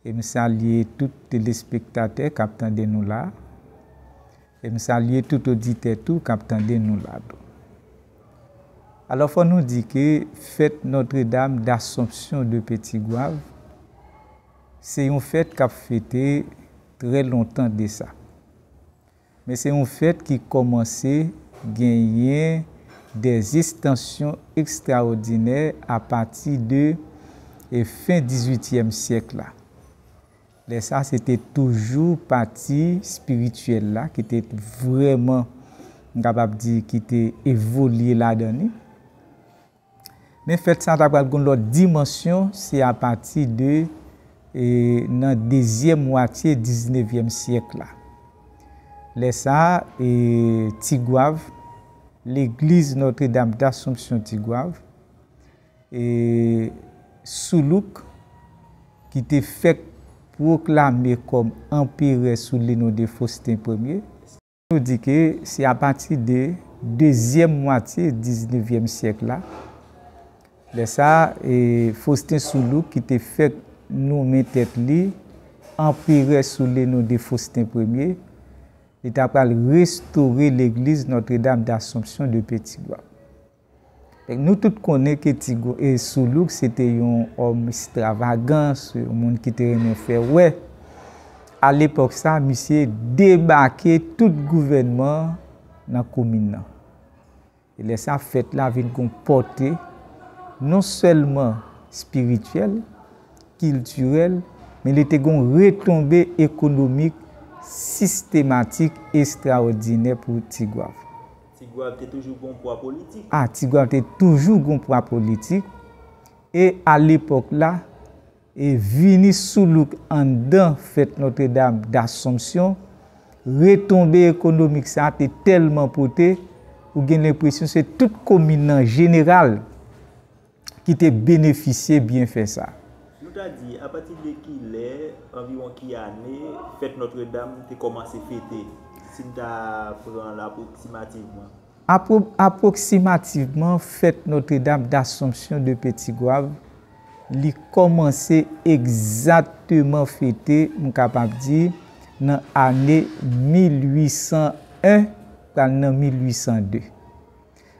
E m salye tout telespektatè k ap tande nou la. E m salye tout oditè tou k ap tande nou la tou. Alò fò nou di ke fèt Notre Dame d'Assomption de Petit Goâve se yon fèt k ap fete trè lontan desa. Men se yon fèt ki kòmanse genyen de estansyon ekstraòdinè apati de fen dizuityèm syèk la. Lè sa se te toujou pati espirityèl la ki te vrèman, m kapab di, ki te evolye ladan li. Men fèt sa ta pral gen yon lòt dimansyon se apati de nan dezyèm mwatye diznevyèm syèk la. Lè sa, Tigwav, legliz Notre Dame d'Assomption Tigwav, Soulouk, ki te fèk pwoklame kòm anperè sou le non de Faustin Ier, Nou di ke se apati de dezyèm mwatye diznevyèm syèk la, lè sa a, Faustin Soulouque ki te fèk nonmen tèt li anperè sou le non de Faustin Premye, li ta pral restore legliz Notre-Dame d'Assomption de Petit-Goâve. Nou tout konnen ke Ti Soulouk se te yon òm estravagan, se yon moun ki te renmen fè wè. A lepòk sa, misye debake tout gouvènman nan komin nan. E lè sa, fèt la vin gon pòte non sèlman espirityèl, kiltirèl, men li te gon retonbe ekonomik sistematik estraòdinè pou Tigwav. Tigwav te toujou gon pwa politik. A. Tigwav te toujou gon pwa politik e a lepòk la e vini sou louk anndan fèt Notre Dame d'Assomption, retonbe ekonomik sa te tèlman pote ou gen lenpresyon se tout komin an jeneral. ki te benefisye byenfè sa a? Nou ta di, apati de ki lè, anviwon ki ane, fèt Notre Dame te kòmanse fete, si n ta pran l apwoksimativman? Apwoksimativman, fèt Notre Dame d'Assomption de Petit Goâve, li kòmanse egzatteman fete, m kapab di, nan ane 1801 pral nan 1802.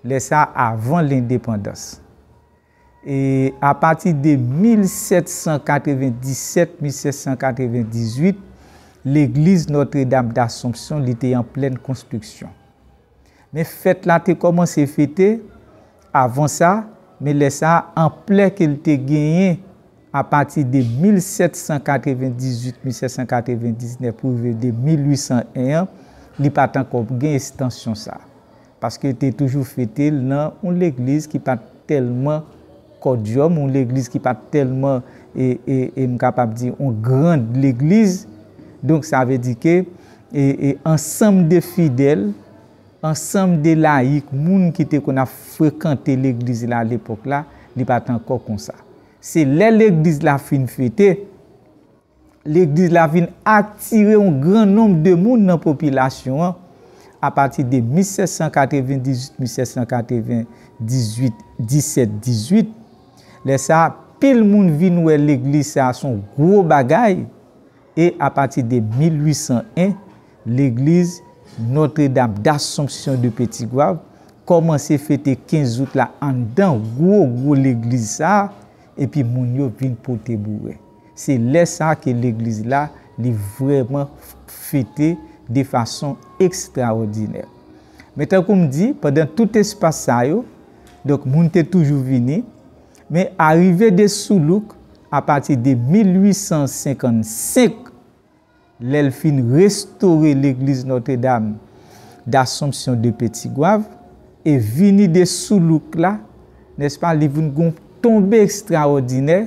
Lè sa avan lendepandans. E apati de 1797, 1798, legliz Nòtredam Dasompsyon li te an plèn konstriksyon. Men fèt la te kòmanse fete avan sa, men lè sa anplè ke li te genyen apati de 1798, 1799 pou rive de 1801 an, li pa t ankò gen estansyon sa. Paske yo te toujou fete l nan yon legliz ki pa t tèlman kòdyòm, yon legliz ki pa t tèlman, e m kapab di, yon grand legliz. Donk sa vle di ke ansanm de fidèl, ansanm de layik, moun ki te konn ap frekante legliz la alepòk la, li pa t ankò konsa. Se lè legliz la fin fete, Legliz la vin atire yon gran nonb de moun nan popilasyon an apati de 1798-1798, 1718. Lè sa a, pil moun vin wè legliz sa a s on gwo bagay e apati de 1801, legliz Notre Dame d'Assomption de Petit Goâve kòmanse fete 15 out la anndan gwo gwo legliz sa a epi moun yo vin pote boure. Se lè sa ke legliz la li vrèman fete de fason ekstraòdinè. Men tankou m di, pandan tout espas sa yo, donk moun te toujou vini, men arive de Soulouk apati de 1855, Lè l fin restore legliz Notre Dame d'Assomption de Petit Goave e vini de sou louk la, nèspa li vin gon tonbe ekstraòdinè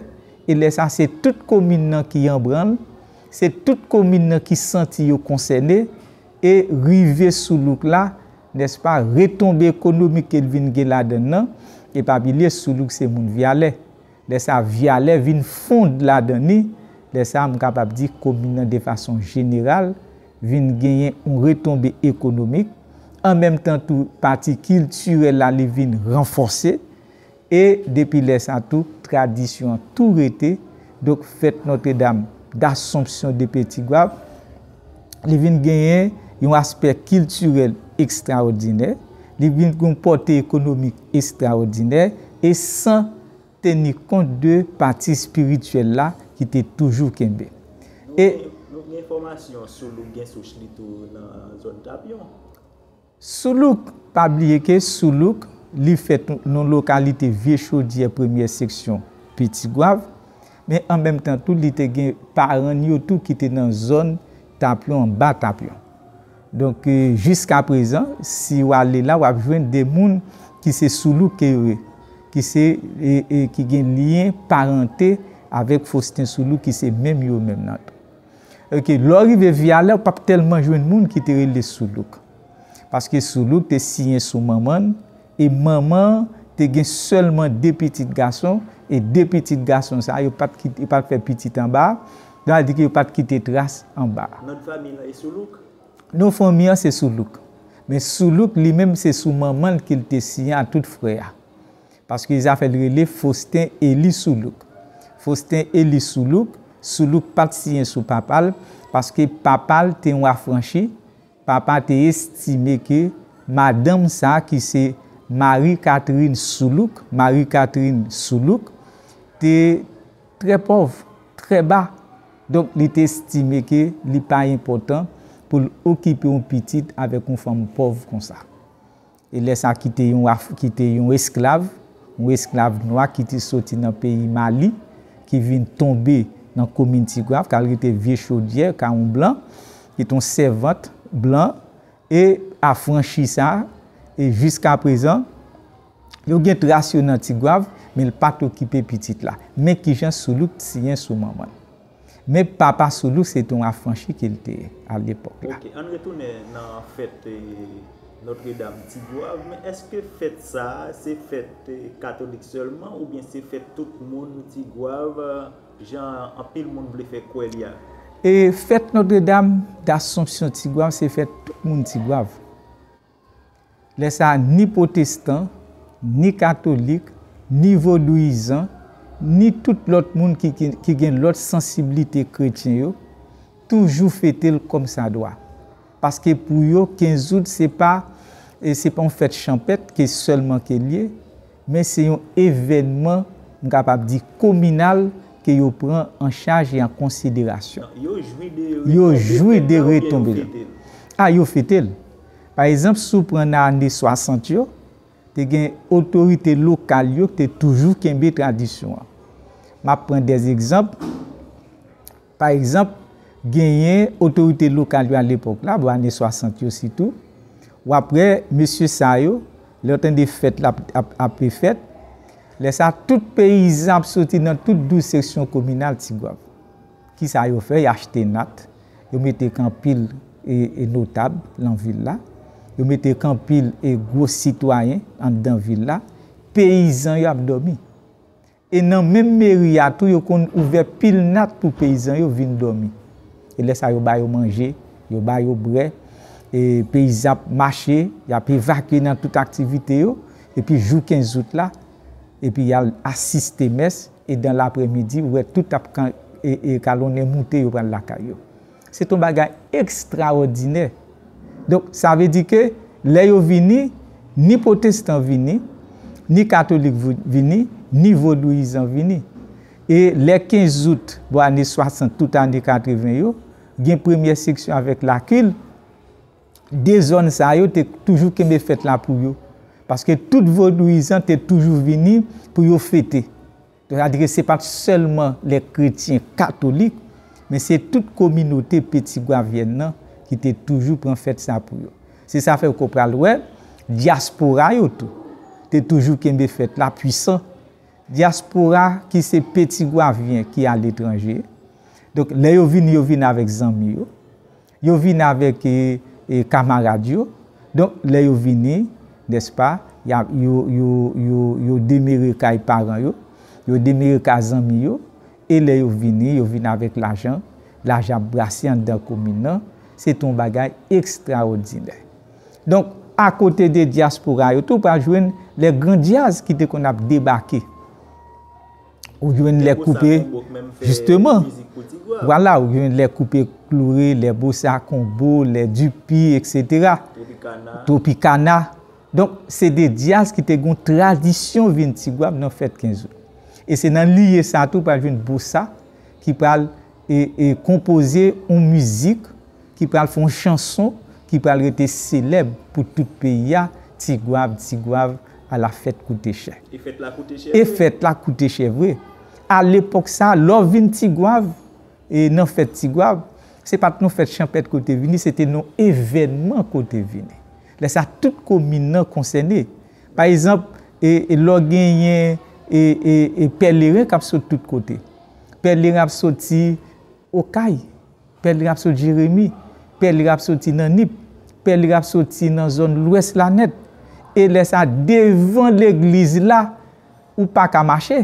e lè sa se tout komin nan ki anbranl, se tout komin nan ki santi yo konsène e rive sou louk la, nèspa retonbe ekonomik ke l vin gen ladann nan, e pa bliye sou louk se moun Vyalè. Lè sa vyalè vin fond ladan ni, lè sa m kapab di komin nan de fason jeneral vin genyen yon retonbe ekonomik, an menm tan tou pati kiltirèl la li vin ranfòse e depi lè sa tou tradisyon an tou rete, donk fèt Notre Dame d'Assomption de Petit Goâve li vin genyen yon aspè kiltirèl ekstraòdinè, li vin gen yon pòte ekonomik estraòdinè e san teni kont de pati espirityèl la ki te toujou kenbe. Nou gen enfòmasyon sou loup gen souch li tou nan zòn Tapyon. Soulouk, Pa bliye ke Soulouk, li fèt nan lokalite Vye Chodyè premyè seksyon Piti Gwav, men an menm tan tou li te gen paran n yo tou ki te nan zòn Tapyon anba Tapyon. Donk jiska prezan si w ale la w ap jwenn de moun ki se Soulouk ke yo ye, ki se ki gen lyen parante avèk Fostin Soulouk ki se menm yo menm nan tou. Ok, lè w rive Vyalè, ou pa t tèlman jwenn moun ki te rele Soulouk. Paske Soulouk te siyen sou manman l, e manman an te gen sèlman de pitit gason, e de pitit gason sa yo pa t kite, yo pa t fè pitit anba, sa vle di ke yo pa t kite tras anba. Non fanmi lan e Soulouk? Non fanmi an se Soulouk. Men Soulouk li menm se sou manman l ke l te siyen a tout frè a. Paske zafè l rele Faustin Elie Soulouque. Faustin Elie Soulouque, Soulouque pa t siyen sou papa l, paske papa l te yon afranchi, papa te estime ke madanm sa ki se Marie Catherine Soulouque, Marie Catherine Soulouque, te trè pòv, trè ba, donk li te estime ke li pa enpòtan pou l okipe yon pitit avèk yon fanm pòv konsa. E lè sa ki te yon Af, ki te yon esklav, yon esklav nwa ki te soti nan peyi Mali, ki vin tonbe nan komin Ti Goave, k al rete Vye Chodyè, ka yon blan, ki te yon sèvant blan, e afranchi sa, e jiskaprezan, yo gen tras yo nan Ti Goave, men l pa t okipe pitit la. Men ki jan Soulouque siyen sou manman l. Men papa Soulou se te yon afranchi ke li te ye a lepòk la. Ok, ann retounen nan fèt Notre Dame Ti Goave, men èske fèt sa a se fèt katolik sèlman oubyen se fèt tout moun Ti Goave jan anpil moun vle fè kwè li a? E fèt Notre Dame d'Assomption Ti Goave se fèt tout moun Ti Goave. Lè sa a, ni pwotestan, ni katolik, ni vodouyizan, ni tout lòt moun ki gen lòt sansiblite kretyen yo, toujou fete l kòmsadwa. Paske pou yo, 15 out se pa yon fèt chanpèt ke sèlman ke l ye, men se yon evènman m kapab di kominal ke yo pran an chaj e an konsiderasyon. Yo jwi de retonbe l. A yo fete l. Pa ezanp si w pran nan ane 60 yo, te gen otorite lokal yo ki te toujou kenbe tradisyon an. M ap pran de egzanp. Pa egzanp, genyen otorite lokal yo alepòk la, bò ane 60 yo sitou, w ap wè mesye sa yo, lè yo tande fèt la ap fèt, lè sa tout peyizan ap soti nan tout 12 seksyon kominal Tigwav. Ki sa yo fè? Y achte nat, yo mete k anpil notab lan vil la, yo mete k anpil gwo sitwayen anndan vil la, peyizan yo ap dòmi. E nan menm meri a tou yo konn ouvè pil nat pou peyizan yo vin dòmi. E lè sa yo ba yo manje, yo ba yo brè, e peyizan ap mache, y ap evakye nan tout aktivite yo, epi jou 15 out la, epi y al asiste mès, e dan laprè midi ou wè tout ap kalonnen moute yo pral lakay yo. Se t on bagay ekstraòdinè. Donk, sa vle di ke lè yo vini, ni pwotestan vini, ni katolik vini, ni vodouyizan vini. E lè 15 out, bò ane 60, tout ane 80 yo, gen premyè seksyon avèk Lakil, de zòn sa yo te toujou kenbe fèt la pou yo. Paske tout vodouyizan te toujou vini pou yo fete. Yo adrese pa t sèlman lè kretyen katolik, men se tout kominote petigwavyèn nan ki te toujou pran fèt sa pou yo. Se sa fè ou ko pral wè, dyaspora yo tou, te toujou kenbe fèt la pwisan. Dyaspora ki se petigwavyen ki aletranje, donk lè yo vini yo vini avèk zanmi yo. Yo vini avèk kamarad yo. Donk, lè yo vini, nèspa, yo demere kay paran yo, yo demere kay zanmi yo, e lè yo vini, yo vini avèk lajan. Lajan ap brase anndan komin nan. Se te yon bagay ekstraòdinè. Donk, akote de dyaspora yo tou, ou pral jwenn lè gran djaz ki te konn ap debake. Ou jwenn lè koupe, jisteman, wala, ou jwenn lè koupe kloure, lè bosa konbo, lè dupi, eksetera. Tropikana. Tropikana. Donk, se de dyaz ki te goun tradisyon vin Tigwav nan fèt 15 out. E se nan liye sa tou pral jwenn bosa ki pral e konpoze yon mizik. ki pral fè yon chanson ki pral rete selèb pou tout peyi a, Ti gwav, ti gwav, ala fèt koute chè. E fèt la koute chè vre. E fèt la koute chè vre. A lepòk sa a, lè w vin Ti gwav, e nan fèt Ti gwav, se pa t yon fèt chanpèt ke w te vini, se te yon evènman ke w te vini. Lè sa a, tout komin nan konsène. Pa ezanp, e lè w genyen e pèleren k ap sot tout kote. Pèleren ap soti Okay, pè li ap sot Jeremi, pè li ap soti nan Nip, pè li ap soti nan zòn lwès la nèt. E lè sa devan legliz la ou pa ka mache.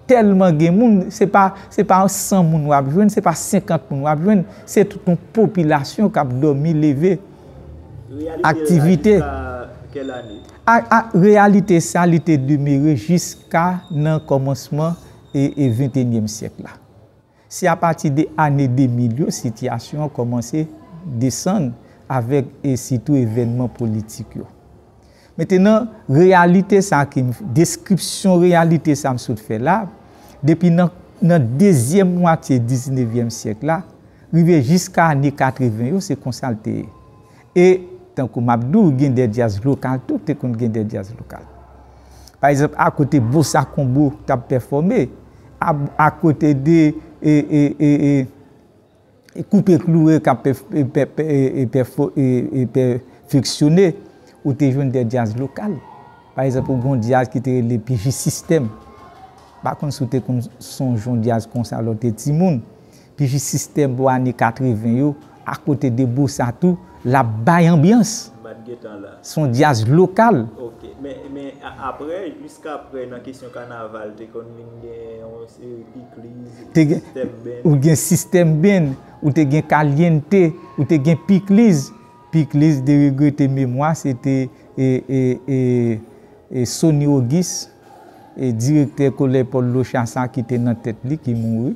Tèlman gen moun, se pa se pa 100 moun wap jwenn, se pa 50 moun wap jwenn, se tout yon popilasyon kap dòmi leve. Reyalite la jiska kèl ane? A reyalite sa li te demere jiska nan kòmansman e ventenyèm syèk la. Se apati de ane 2000 yo sitiyasyon an kòmanse desann avèk e sitou evènman politik yo. Mentenan, reyalite sa ke m, deskripsyon reyalite sa m sot fè la, depi nan nan dezyèm mwatye diznevyèm syèk la, rive jiska ane 80 yo, se konsa l te ye. E tankou m ap di w gen de djaz lokal tou te konn gen de djaz lokal. Pa egzanp akote Bossa Combo t ap pèfòme, akote de Koupe Kloure k ap pèfeksyone, ou te jwenn de djaz lokal. Pa egzanp ou gen yon djaz ki te rele Pijisistèm. M pa konn si w te konn sonje yon djaz konsa lè w te timoun. Bgy system pou ane 80 yo a kote de bossa tou lap bay anbyans. Mpat gentan la. Son djazz lokal. Ok men men aprè jiskaprè nan kesyon kanaval te konn vin gen yon seri pikliz, system band. Ou gen system band, ou te gen caliente, ou te gen pikliz, pikliz de regrete memwa se te e e e e Sony Auguste direktè kolèj Pòl Locha sa ki te nan tèt li ki mouri.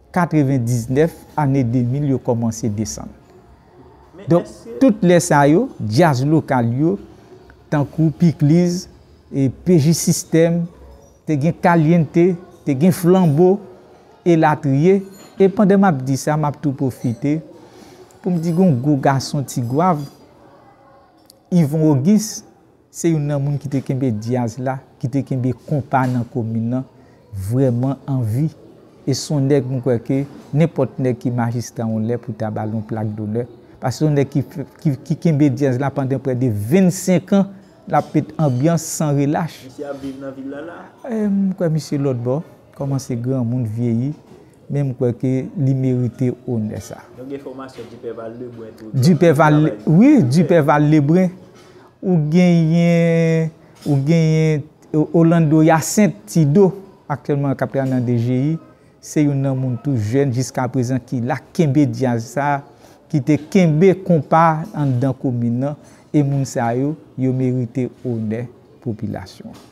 99 ane 2000 yo kòmanse desann. Donk tout lè sa yo djaz lokal yo tankou Pikliz, PJ System, te gen Caliente, te gen Flanbo elatriye. E pandan m ap di sa m ap tou pwofite pou m di gen yon gwo gason Tigwav, Yvon Ogis. Se youn nan moun ki te kenbe dyaz la, ki te kenbe konpa nan komin nan vrèman an vi e son nèg m kwè ke nenpòt nèg ki majistra yon lè pou ta ba l yon plak donè paske son nèg ki kenbe dyaz la pandan prè de 25 an l ap met anbyans san relach. Misye ap viv nan vil la la? M kwè misye lòtbò. Koman se granmoun vyeyi men m kwè ke li merite onè sa. Nou gen fòmasyon Duperval Lebrun tou ki ap fè travay li. Wi Duperval Lebrun, ou genyen ou genyen Orlando Hyacinthe Tido aktyèlman k ap travay nan DGI se youn nan moun tou jèn jiskaprezan ki la k kenbe djaz sa ki te kenbe konpa anndan komin nan e moun sa yo yo merite onè popilasyon an.